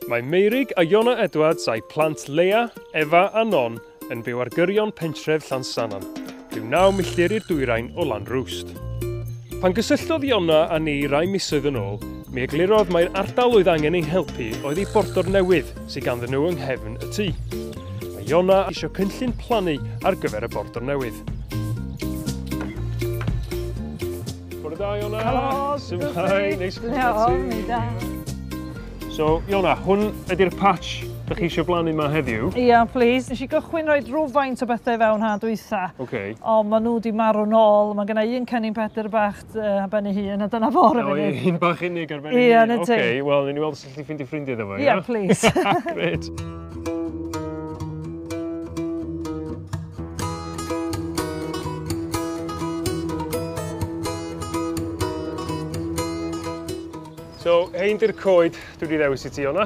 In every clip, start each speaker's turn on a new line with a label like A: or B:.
A: Mae Meurig a Iona Edwards a'u plant Leia, Efa a Non yn byw ar gyrion pentref Llansannan, rhyw naw milltir i'r dwyrain o Lanrwst. Pan gysylltodd Iona a ni rai misoedd yn ôl, mi eglurodd mai'r ardal oedd angen ei helpu oedd ei bordor newydd sydd ganddyn nhw yng nghefn y tŷ. Mae Iona eisiau cynllun plannu ar gyfer y bordor newydd. Bore da, Iona!
B: Helo! Symhai, neis i chi da.
A: So, Iona, hwn ydy'r patch Dych chi eisiau blannu yma heddiw? Ia, yeah, please. Nes i
B: gychwyn rhoi rhywfaint o bethau fewn ha dwytha. Okay. O, maen nhw
A: wedi marw
B: nôl. Mae gennau un cennin pedr bach uh, ben ei hun, a dyna fawr efo'n ei. O, un bach unig ar ben ei hun.
A: Ia, na ti. Okay, wel, ni'n
B: weld Gallu
A: ffindio ffrindiau iddo fo, ie? Ie, plis. Gret. So, hein di'r coed dwi wedi ddewis i ti, Iona.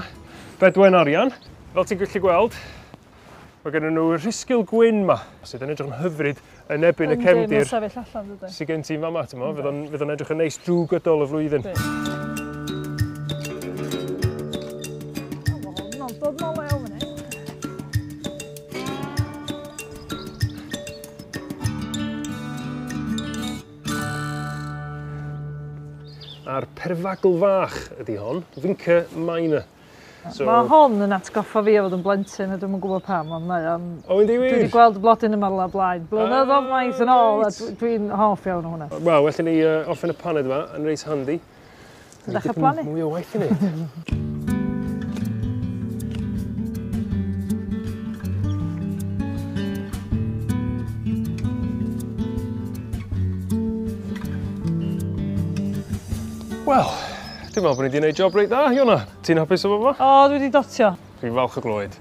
A: Bedwen arian. Fel ti'n gallu gweld, Mae gen nhw rhisgil gwyn ma, sydd yn edrych yn hyfryd yn ebyn y cefndir. Sydd gen ti'n fama, ti'n mo? Fydd o'n edrych yn neis drwy gydol y flwyddyn. A'r perfagl fach ydy hon, Vinca minor. So... Ma' hon yn atgoffa
B: fi o fod yn blentyn a dwi'm yn gwbod pam ond mae o'n... O yndi wir? Dwi 'di gweld y
A: blodyn yma
B: rwla o blaen. Blynyddodd maith yn ôl a dw- dwi'n hoff iawn o hwnna. Wel well i ni yy
A: orffen y paned yma yn reit handi. Ti dechre
B: plannu? Mwy o waith i neud.
A: Wel
B: Dwi'n
A: meddwl bod ni wedi gwneud job reit dda, Iona. Ti'n hapus efo fo? O, dwi wedi dotio. Dwi'n
B: falch
A: o glywed.